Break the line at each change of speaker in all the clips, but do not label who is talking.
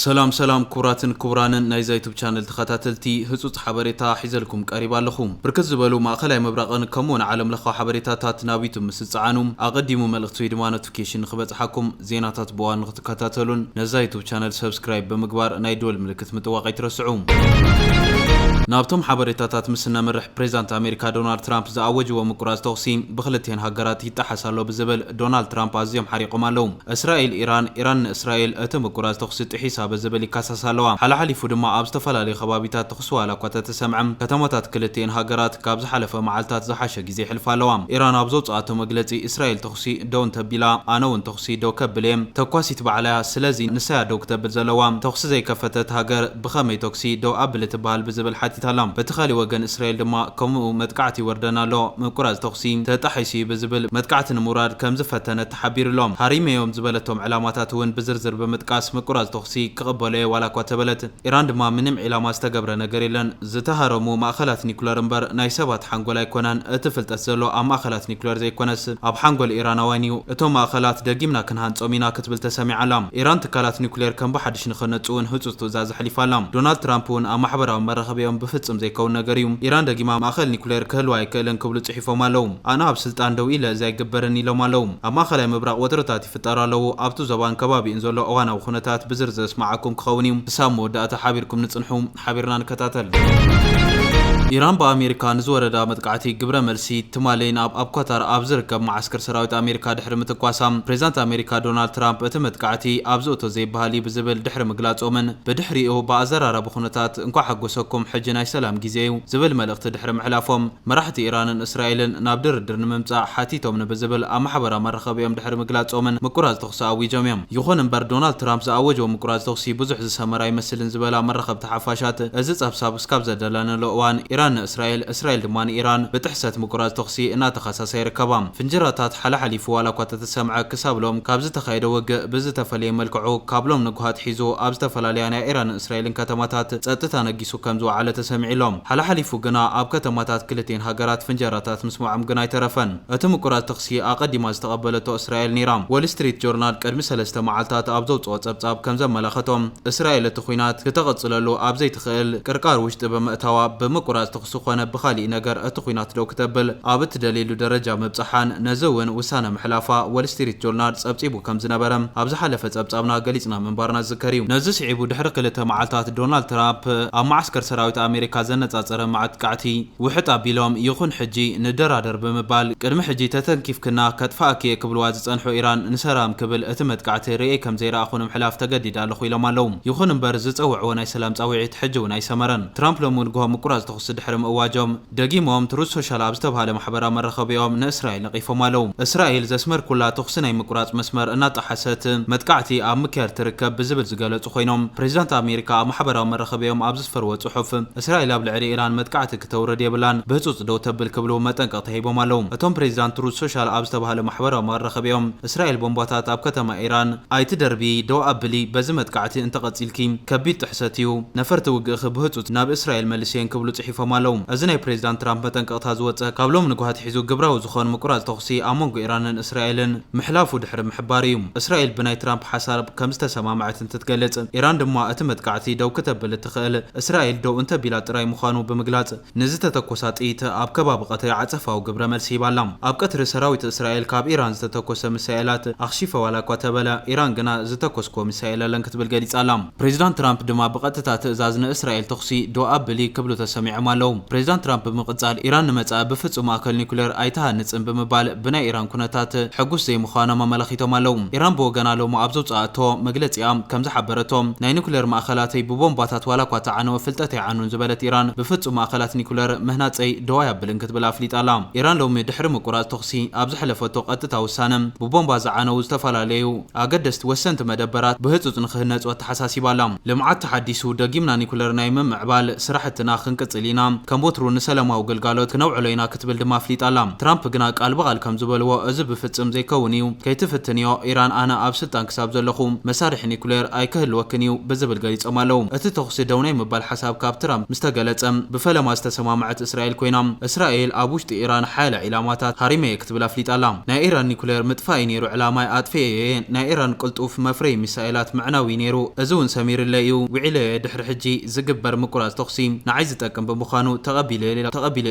ሰላም ሰላም ክቡራትን ክቡራንን ናይዛ ዩቱብ ቻነል ተኸታተልቲ ህጹጽ ሓበሬታ ሒዘልኩም ቀሪብ ኣለኹ። ብርክት ዝበሉ ማእኸላይ ምብራቕን ከምኡውን ዓለም ለኻዊ ሓበሬታታት ናብ ዩቱብ ምስ ትጸዓኑ ኣቐዲሙ መልእኽቲ ወይ ድማ ኖቲፊኬሽን ንኽበጽሓኩም ዜናታት ብእዋኑ ንኽትከታተሉን ነዛ ዩቱብ ቻነል ሰብስክራይብ ብምግባር ናይ ደወል ምልክት ምጥዋቕ ኣይትረስዑ። ናብቶም ሓበሬታታት ምስ እነምርሕ ፕሬዚዳንት ኣሜሪካ ዶናልድ ትራምፕ ዝኣወጅዎ ምቁራጽ ተኹሲ ብክልቲኤን ሃገራት ይጣሓስ ኣሎ ብዝብል ዶናልድ ትራምፕ ኣዝዮም ሓሪቖም ኣለዉ። እስራኤል ኢራን፣ ኢራን ንእስራኤል፣ እቲ ምቁራጽ ተኹሲ ጥሒሳ ብዝብል ይካሰሳ ኣለዋ። ሓላሓሊፉ ድማ ኣብ ዝተፈላለዩ ከባቢታት ተኹሲ ዋላኳ ተተሰምዐ፣ ከተማታት ክልቲኤን ሃገራት ካብ ዝሓለፈ መዓልታት ዝሓሸ ግዜ የሕልፋ ኣለዋ። ኢራን ኣብ ዘውጽኣቶ መግለጺ፣ እስራኤል ተኹሲ ደው እንተቢላ፣ ኣነ'ውን ተኹሲ ደው ከብል'የ። ተኳሲት ባዕላ'ያ፣ ስለዚ ንሳ'ያ ደው ክተብል ዘለዋ። ተኹሲ ዘይከፈተት ሃገር ብኸመይ ተኩሲ ደው ኣብል እትበሃል ብዝብል ሓቲታ'ላ። በቲ ካሊእ ወገን እስራኤል ድማ ከምኡ መጥቃዕቲ ይወርደና ኣሎ፣ ምቁራጽ ተኹሲ ተጣሒሱ'ዩ ብዝብል መጥቃዕቲ ንምውራድ ከምዝፈተነት ሓቢሩሎም። ሃሪመዮም ዝበለቶም ዕላማታት እውን ብዝርዝር ብምጥቃስ ምቁራጽ ተኹሲ ክቕበሎ'የ ዋላኳ ተበለት ኢራን ድማ ምንም ዒላማ ዝተገብረ ነገር የለን። ዝተሃረሙ ማእኸላት ኒኩለር እምበር ናይ ሰባት ሓንጎል ኣይኮነን። እቲ ፍልጠት ዘሎ ኣብ ማእኸላት ኒኩለር ዘይኮነስ ኣብ ሓንጎል ኢራናውያን እዩ። እቶም ማእኸላት ደጊምና ክንሃንጾም ኢና ክትብል ተሰሚዓ ኣላ። ኢራን ትካላት ኒኩሌር ከም ብሓድሽ ንክህነጹ እውን ህጹጽ ትእዛዝ ኣሕሊፋ ኣላ። ዶናልድ ትራምፕ እውን ኣብ ማሕበራዊ መራኸቢኦም ብፍጽም ዘይከውን ነገር እዩ። ኢራን ደጊማ ማእኸል ኒኩሌር ክህልዋ ኣይክእልን ክብሉ ጽሒፎም። ተሰኪፎም ኣለው። ኣነ ኣብ ስልጣን ደው ኢለ እዚ ኣይግበርን ኢሎም ኣለው። ኣብ ማእኸላይ ምብራቕ ወጥርታት ይፍጠሩ ኣለው። ኣብቱ ዞባን ከባቢኡን ዘሎ እዋናዊ ኹነታት ብዝርዝር ዘስመዓኩም ክኸውን እዩ። ክሳብ መወዳእታ ሓቢርኩም ንፅንሑ። ሓቢርና ንከታተል። ኢራን ብኣሜሪካ ንዝወረዳ መጥቃዕቲ ግብረ መልሲ ትማሊ ናብ ኣብ ኳታር ኣብ ዝርከብ መዓስከር ሰራዊት ኣሜሪካ ድሕሪ ምትኳሳ ፕሬዝዳንት ኣሜሪካ ዶናልድ ትራምፕ እቲ መጥቃዕቲ ኣብዚ እቶ ዘይበሃል እዩ ብዝብል ድሕሪ ምግላፆምን ብድሕሪኡ ብኣዘራራቢ ኹነታት እንኳዕ ሓጎሰኩም ሕጂ ናይ ሰላም ጊዜ እዩ ዝብል መልእኽቲ ድሕሪ ምሕላፎም መራሕቲ ኢራንን እስራኤልን ናብ ድርድር ንምምጻእ ሓቲቶም ንብዝብል ኣብ ማሕበራዊ መራኸቢኦም ድሕሪ ምግላጾምን ምቁራጽ ተኹሲ ኣዊጆም እዮም። ይኹን እምበር ዶናልድ ትራምፕ ዝኣወጆ ምቁራጽ ተኹሲ ብዙሕ ዝሰመረ ኣይመስልን ዝበላ መራኸብቲ ሓፋሻት እዚ ጸብጻብ እስካብ ዘዳለነሉ እዋን ኢራን ንእስራኤል እስራኤል ድማ ንኢራን ብጥሕሰት ምቁራጽ ተኹሲ እናተኸሰሳ ይርከባ። ፍንጀራታት ሓለሓሊፉ ዋላኳ ተተሰምዐ ክሳብ ሎም ካብ ዝተኻየደ ውግእ ብዝተፈለየ መልክዑ ካብ ሎም ንጉሃ ኣትሒዙ ኣብ ዝተፈላለያ ናይ ኢራንን እስራኤልን ከተማታት ጸጥታ ነጊሱ ሒሱ ከም ዝወዓለ ተሰሚዑ'ሎም። ሓለሓሊፉ ግና ኣብ ከተማታት ክልቲኤን ሃገራት ፍንጀራታት ምስማዖም ግን ኣይተረፈን። እቲ ምቁራጽ ተኹሲ ኣቐዲማ ዝተቐበለቶ እስራኤል ነይራ። ዎል ስትሪት ጆርናል ቅድሚ ሰለስተ መዓልታት ኣብ ዘውጽኦ ጸብጻብ ከም ዘመላኸቶ፣ እስራኤል እቲ ኲናት ክተቐጽለሉ ኣብ ዘይትኽእል ቅርቃር ውሽጢ ብምእታዋ፣ ብምቁራጽ ተኹሲ ኮነ ብኻሊእ ነገር እቲ ኲናት ደው ክተብል ኣብ እትደልየሉ ደረጃ ምብጻሓን ነዚ እውን ውሳነ ምሕላፋ ዎል ስትሪት ጆርናል ጸብጺቡ። ከም ዝነበረ ኣብ ዝሓለፈ ጸብጻብና ገሊጽና ምንባርና ዝዝከር እዩ። ነዚ ስዒቡ ድሕሪ ክልተ መዓልታት ዶናልድ ትራፕ ኣብ መዓስከር ሰራዊት ኣሜሪካ ዘነጻጸረ መዕጥቃዕቲ ውሕጥ ኣቢሎም ይኹን ሕጂ ንደራደር ብምባል ቅድሚ ሕጂ ተተንኪፍክና ከጥፍኣኪ እየ ክብልዋ ዝጸንሑ ኢራን ንሰራም ክብል እቲ መጥቃዕቲ ርእየ ከም ዘይረኣኹ ንምሕላፍ ተገዲደ ኣለኹ ኢሎም ኣለዉ። ይኹን እምበር ዝጸውዕዎ ናይ ሰላም ጻውዒት ሕጂ እውን ኣይሰመረን። ትራምፕ ሎሚ ንግሆ ምቁራጽ ተኹሲ ድሕሪ ምእዋጆም፣ ደጊሞም ትሩዝ ሶሻል ኣብ ዝተብሃለ ማሕበራዊ መራኸቢኦም ንእስራኤል ነቒፎም ኣለዉ። እስራኤል ዘስመርኩላ ተኹሲ ናይ ምቁራጽ መስመር እናጣሓሰት መጥቃዕቲ ኣብ ምክያድ ትርከብ ብዝብል ዝገለጹ ኮይኖም፣ ፕሬዚዳንት ኣሜሪካ ኣብ ማሕበራዊ መራኸቢኦም ኣብ ዘስፈርዎ ጽሑፍ እስራኤል ኣብ ልዕሊ ኢራን መጥቃዕቲ ክተውርድ የብላን ብህጹጽ ደው ተብል ክብሉ መጠንቀቕታ ሂቦም ኣለዉ። እቶም ፕሬዚዳንት ትሩዝ ሶሻል ኣብ ዝተብሃለ ማሕበራዊ መራኸቢኦም እስራኤል ቦምባታት ኣብ ከተማ ኢራን ኣይትደርብዪ፣ ደው ኣብሊ፣ በዚ መጥቃዕቲ እንተቐጺልኪ ከቢድ ጥሕሰት እዩ፣ ነፈርቲ ውግእኺ ብህጹጽ ናብ እስራኤል መልስየን ክብሉ ጽሒፎም። ገዲፎም ኣለዉ። እዚ ናይ ፕሬዚዳንት ትራምፕ መጠንቀቕታ ዝወፀ ካብ ሎሚ ንጉሃ ኣትሒዙ ግብራዊ ዝኾን ምቁራፅ ተኹሲ ኣብ መንጎ ኢራንን እስራኤልን ምሕላፉ ድሕሪ ምሕባር እዩ። እስራኤል ብናይ ትራምፕ ሓሳርብ ከምዝተሰማምዐት እንትትገልፅ ኢራን ድማ እቲ መጥቃዕቲ ደው ክተብል እትኽእል እስራኤል ደው እንተቢላ ጥራይ ምዃኑ ብምግላፅ ንዝተተኮሳ ጥይት ኣብ ከባቢ ቀትሪ ዓፀፋዊ ግብረ መልሲ ሂባ ኣላ። ኣብ ቀትሪ ሰራዊት እስራኤል ካብ ኢራን ዝተተኮሰ ሚሳኤላት ኣኽሺፈ ዋላ እኳ ተበለ ኢራን ግና ዝተኮስክዎ ሚሳኤል የለን ክትብል ገሊፃ ኣላ። ፕሬዚዳንት ትራምፕ ድማ ብቐጥታ ትእዛዝ ንእስራኤል ተኹሲ ደው ኣብሊ ክብሉ ተሰሚዖም ኣለው። ፕሬዚዳንት ትራምፕ ብምቕፃል ኢራን ንመፃኢ ብፍፁም ማእከል ኒኩሌር ኣይትሃንፅን ብምባል ብናይ ኢራን ኩነታት ሕጉስ ዘይምዃኖም ኣመላኺቶም ኣለው። ኢራን ብወገና ሎሚ ኣብ ዘውፀኣቶ መግለፂኣ ከምዝሓበረቶ ናይ ኒኩሌር ማእኸላተይ ብቦምባታት ዋላኳ ተዓነወ ፍልጠት ኣይዓኑን ዝበለት ኢራን ብፍፁም ማእኸላት ኒኩሌር ምህናፀይ ደው ኣያብልን ክትብል ኣፍሊጣ ኣላ። ኢራን ሎሚ ድሕሪ ምቁራፅ ተኹሲ ኣብ ዘሕለፈቶ ቀጥታ ውሳነ ብቦምባ ዝዓነው ዝተፈላለዩ ኣገደስቲ ወሰንቲ መደበራት ብህጹጽ ንኽህነጹ ኣተሓሳሲባ ኣላ። ልምዓት ተሓዲሱ፣ ደጊምና ኒኩለር ናይ ምምዕባል ስራሕትና ክንቅጽል ኢና፣ ከም ወትሩ ንሰላማዊ ግልጋሎት ክነውዕሎ ኢና ክትብል ድማ ኣፍሊጣ ኣላ። ትራምፕ ግና ቃል ብቓል ከም ዝበልዎ እዚ ብፍጽም ዘይከውን እዩ፣ ከይትፍትንዮ ኢራን ኣነ ኣብ ስልጣን ክሳብ ዘለኹ መሳርሒ ኒኩሌር ኣይክህልወክን እዩ ብዝብል ገሊጾም ኣለው። እቲ ተኹሲ ደው ናይ ምባል ሓሳብ ካብ ትራምፕ ምስ ተገለጸ ብፈለማ ዝተሰማምዐት እስራኤል ኮይና፣ እስራኤል ኣብ ውሽጢ ኢራን ሓያለ ዒላማታት ሃሪመ'የ ትብል ኣፍሊጣ ኣላ። ናይ ኢራን ኒኩሌር ምጥፋእ እዩ ነይሩ ዕላማይ፣ ኣጥፊኤዮ እየ። ናይ ኢራን ቅልጡፍ መፍረዪ ሚሳኤላት ምዕናው እዩ ነይሩ። እዚ እውን ሰሚርለይ እዩ። ውዒለዮ እየ፣ ድሕሪ ሕጂ ዝግበር ምቁራጽ ተኹሲ ንዓይ ዝጠቅም ብምዃኑ ተቐቢለዮ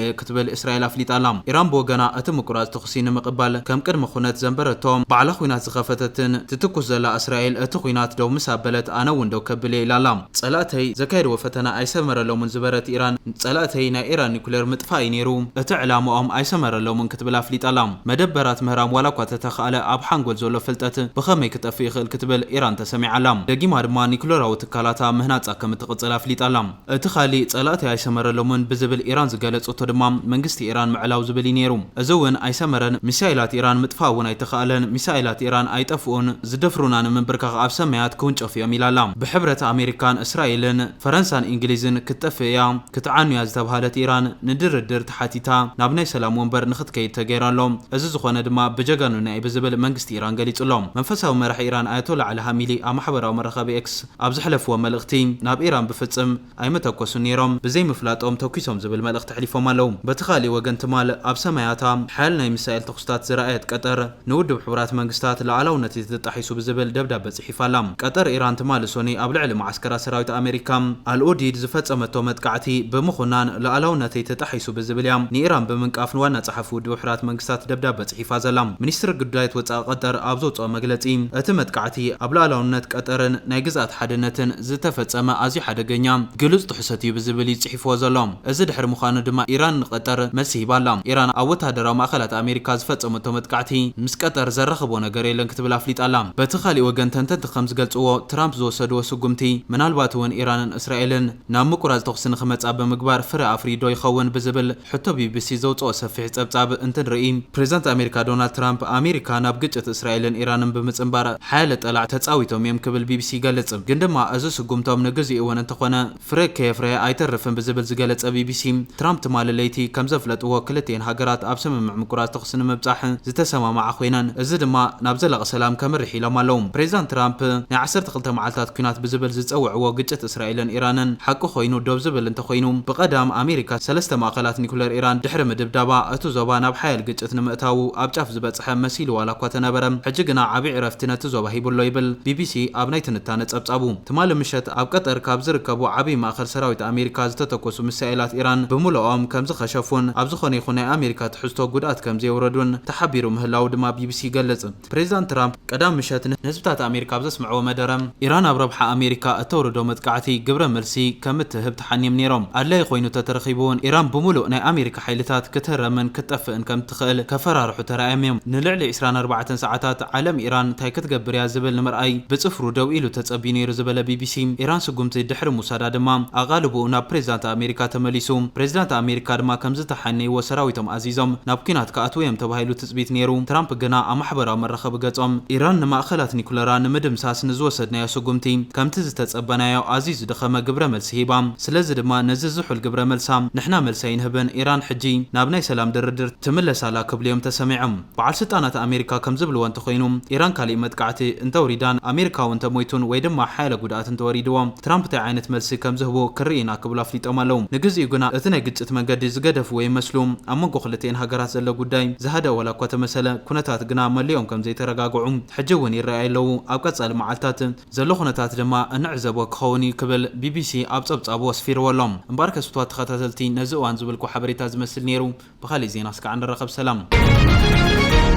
እየ ክትብል እስራኤል ኣፍሊጣ ኣላ። ኢራን ብወገና እቲ ምቁራጽ ተኹሲ ንምቕባል ከም ቅድመ ኩነት ዘንበረቶ፣ ባዕላ ኲናት ዝኸፈተትን ትትኩስ ዘላ እስራኤል እቲ ኲናት ደው ምስ ኣበለት ኣነ እውን ደው ከብል እየ ኢላ ኣላ። ጸላእተይ ዘካየድዎ ፈተና ኣይሰመረሎምን ዝበረት ኢራን፣ ጸላእተይ ናይ ኢራን ኒኩሌር ምጥፋእ'ዩ ነይሩ፣ እቲ ዕላማኦም ኣይሰመረሎምን ክትብል ኣፍሊጣ'ላ። መደበራት ምህራም ዋላ'ኳ ተተኻእለ፣ ኣብ ሓንጎል ዘሎ ፍልጠት ብኸመይ ክጠፍእ ይኽእል ክትብል ኢራን ተሰሚዓ'ላ። ደጊማ ድማ ኒኩለራዊ ትካላታ ምህናጻ ከም እትቕጽል ኣፍሊጣ'ላ። እቲ ካልእ ጸላእተይ ኣይሰመረሎምን ብዝብል ኢራን ዝገለጸቶ ድማ መንግስቲ ኢራን ምዕላው ዝብል'ዩ ነይሩ። እዚ'ውን ኣይሰመረን፣ ሚሳይላት ኢራን ምጥፋእ'ውን ኣይተኻእለን፣ ሚሳይላት ኢራን ኣይጠፍኡን፣ ዝደፍሩና ንምንብርካኽ ኣብ ሰማያት ክውንጨፉ'ዮም ኢላ'ላ። ብሕብረት ኣሜሪካን እስራኤልን፣ ፈረንሳን ኢንግሊዝን ክትጠፍእ እያ ክትዓኑ እያ ዝተብሃለት ኢራን ንድርድር ተሓቲታ ናብ ናይ ሰላም ወንበር ንኽትከይድ ተገይሩ ኣሎ። እዚ ዝኾነ ድማ ብጀጋኑና እዩ ብዝብል መንግስቲ ኢራን ገሊጹ ኣሎ። መንፈሳዊ መራሒ ኢራን ኣያቶላ ዓሊ ሃሚሊ ኣብ ማሕበራዊ መራኸቢ ኤክስ ኣብ ዘሕለፍዎ መልእኽቲ ናብ ኢራን ብፍጽም ኣይመተኮሱን ነይሮም ብዘይምፍላጦም ተኲሶም ዝብል መልእኽቲ ኣሕሊፎም ኣለዉ። በቲ ካልእ ወገን ትማል ኣብ ሰማያታ ሓያል ናይ ሚሳኤል ተኹስታት ዝረኣየት ቀጠር፣ ንውድብ ሕቡራት መንግስታት ልኣላውነት እቲ ተጣሒሱ ብዝብል ደብዳበ ጽሒፋ ኣላ። ቀጠር ኢራን ትማሊ ሶኑይ ኣብ ልዕሊ መዓስከራት ሰራዊት ኣመሪካ ኣል-ኡዲድ ዝፈጸመቶ መጥቃዕቲ ብምኹናን ልኣላውነተይ ተጣሒሱ ብዝብል እያ ንኢራን ብምንቃፍ ንዋና ጸሓፊ ውድብ ሕራት መንግስታት ደብዳበ ጽሒፋ ዘላ። ሚኒስትሪ ግዱዳያት ወጻኢ ቀጠር ኣብ ዘውጽኦ መግለጺ እቲ መጥቃዕቲ ኣብ ልኣላውነት ቀጠርን ናይ ግዝኣት ሓድነትን ዝተፈጸመ ኣዝዩ ሓደገኛ ግሉጽ ጥሕሰት እዩ ብዝብል እዩ ገዲፍዎ ዘሎ። እዚ ድሕሪ ምዃኑ ድማ ኢራን ንቀጠር መልሲ ሂባ ኣላ። ኢራን ኣብ ወተሃደራዊ ማእኸላት ኣሜሪካ ዝፈፀመቶ መጥቃዕቲ ምስ ቀጠር ዘራኽቦ ነገር የለን ክትብል ኣፍሊጣ ኣላ። በቲ ካሊእ ወገን ተንተንቲ ከምዝገልፅዎ ትራምፕ ዝወሰድዎ ስጉምቲ ምናልባት እውን ኢራንን እስራኤልን ናብ ምቁራፅ ተኹሲ ንክመፃ ብምግባር ፍረ ኣፍርዩ ዶ ይኸውን ብዝብል ሕቶ ቢቢሲ ዘውፀኦ ሰፊሕ ፀብፃብ እንትንርኢ ፕሬዝዳንት ኣሜሪካ ዶናልድ ትራምፕ ኣሜሪካ ናብ ግጭት እስራኤልን ኢራንን ብምፅምባር ሓያለ ጠላዕ ተፃዊቶም እዮም ክብል ቢቢሲ ይገልፅ። ግን ድማ እዚ ስጉምቶም ንግዚኡ እውን እንተኾነ ፍረ ከየፍረየ ኣይተርፍን ብዝብል ዝገለጸ ቢቢሲ፣ ትራምፕ ትማሊ ለይቲ ከም ዘፍለጥዎ ክልቲኤን ሃገራት ኣብ ስምምዕ ምቁራጽ ተዅሲ ንምብጻሕ ዝተሰማምዓ ኰይነን፣ እዚ ድማ ናብ ዘላቒ ሰላም ከምርሕ ኢሎም ኣለዉ። ፕሬዚዳንት ትራምፕ ናይ ዓሰርተ ክልተ መዓልታት ኲናት ብዝብል ዝጸውዕዎ ግጭት እስራኤልን ኢራንን ሓቂ ኰይኑ ደው ዝብል እንተዀይኑ፣ ብቐዳም ኣሜሪካ ሰለስተ ማእከላት ኒኵለር ኢራን ድሕሪ ምድብዳባ እቲ ዞባ ናብ ሓያል ግጭት ንምእታዉ ኣብ ጫፍ ዝበጽሐ መሲሉ ዋላ'ኳ ተነበረ፣ ሕጂ ግና ዓቢ ዕረፍቲ ነቲ ዞባ ሂቡ'ሎ ይብል ቢቢሲ ኣብ ናይ ትንታነ ጸብጻቡ። ትማሊ ምሸት ኣብ ቀጠር ካብ ዝርከቡ ዓብዪ ማእኸል ሰራዊት ኣሜሪካ ዝተተኮሱ ሚሳኤላት ኢራን ብምሉኦም ከምዝኸሸፉን ኣብ ዝኾነ ይኹን ናይ ኣሜሪካ ትሕዝቶ ጉድኣት ከምዘየውረዱን ተሓቢሩ ምህላዉ ድማ ቢቢሲ ይገልፅ። ፕሬዚዳንት ትራምፕ ቀዳም ምሸት ንህዝብታት ኣሜሪካ ኣብ ዘስምዕዎ መደረ፣ ኢራን ኣብ ረብሓ ኣሜሪካ እተውርዶ መጥቃዕቲ ግብረ መልሲ ከምትህብ ተሓንዮም ነይሮም፣ ኣድላዪ ኮይኑ ተተረኺቡ እውን ኢራን ብምሉእ ናይ ኣሜሪካ ሓይልታት ክትህረምን ክትጠፍእን ከም ዝኸእል ከፈራርሑ ተራእዮም እዮም። ንልዕሊ ዕስራን ኣርባዕተን ሰዓታት ዓለም ኢራን እንታይ ክትገብር እያ ዝብል ንምርኣይ ብጽፍሩ ደው ኢሉ ተጸብዩ ነይሩ ዝበለ ቢቢሲ፣ ኢራን ስጉምቲ ድሕሪ ምውሳዳ ድማ ኣቓልቦኡ ናብ ፕሬዚዳንት ኣሜሪካ ተመሊሱ። ፕሬዚዳንት ኣሜሪካ ድማ ከምዝተሓነይዎ ሰራዊቶም ኣዚዞም ናብ ኲናት ክኣትዉ እዮም ተባሂሉ ትጽቢት ነይሩ። ትራምፕ ግና ኣብ ማሕበራዊ መራኸቢ ገጾም፣ ኢራን ንማእኸላት ኒኩለራ ንምድምሳስ ንዝወሰድናዮ ስጉምቲ ከምቲ ዝተጸበናዮ ኣዝዩ ዝደኸመ ግብረ ሂባ። ስለዚ ድማ ነዚ ዝሑል ግብረ መልሳ ንሕና መልሲ ኣይንህብን፣ ኢራን ሕጂ ናብ ናይ ሰላም ድርድር ትምለስ ኣላ ክብሉ እዮም ተሰሚዖም። በዓል ስልጣናት ኣሜሪካ ከም ዝብልዎ እንተኾይኑ ኢራን ካሊእ መጥቃዕቲ እንተውሪዳን ኣሜሪካዊ እንተሞይቱን ወይ ድማ ሓያለ ጉድኣት እንተወሪድዎ ትራምፕ ታይ ዓይነት መልሲ ከም ዝህቡ ክንርኢ ኢና ክብሉ ኣፍሊጦም ኣለው። ንግዚኡ ግና እቲ ናይ ግጭት መንገዲ ዝገደፍዎ ይመስሉ። ኣብ መንጎ ክልቲኤን ሃገራት ዘሎ ጉዳይ ዝሃደኣ ዋላ እኳ ተመሰለ ኩነታት ግና መሊኦም ከም ዘይተረጋግዑ ሕጂ እውን ይረኣዩ ኣለው። ኣብ ቀፃሊ መዓልታት። ዘሎ ኩነታት ድማ እንዕዘቦ ክኸውን እዩ ክብል ቢቢሲ ኣብ ጸብጻቡ ኣስፊርዎ ኣሎ። እምበኣርከ ፍትዋት ተኸታተልቲ ነዚ እዋን ዝበልኩዎ ሓበሬታ ዝመስል ነይሩ። ብኻሊእ ዜና እስካዕ ንራኸብ ሰላም።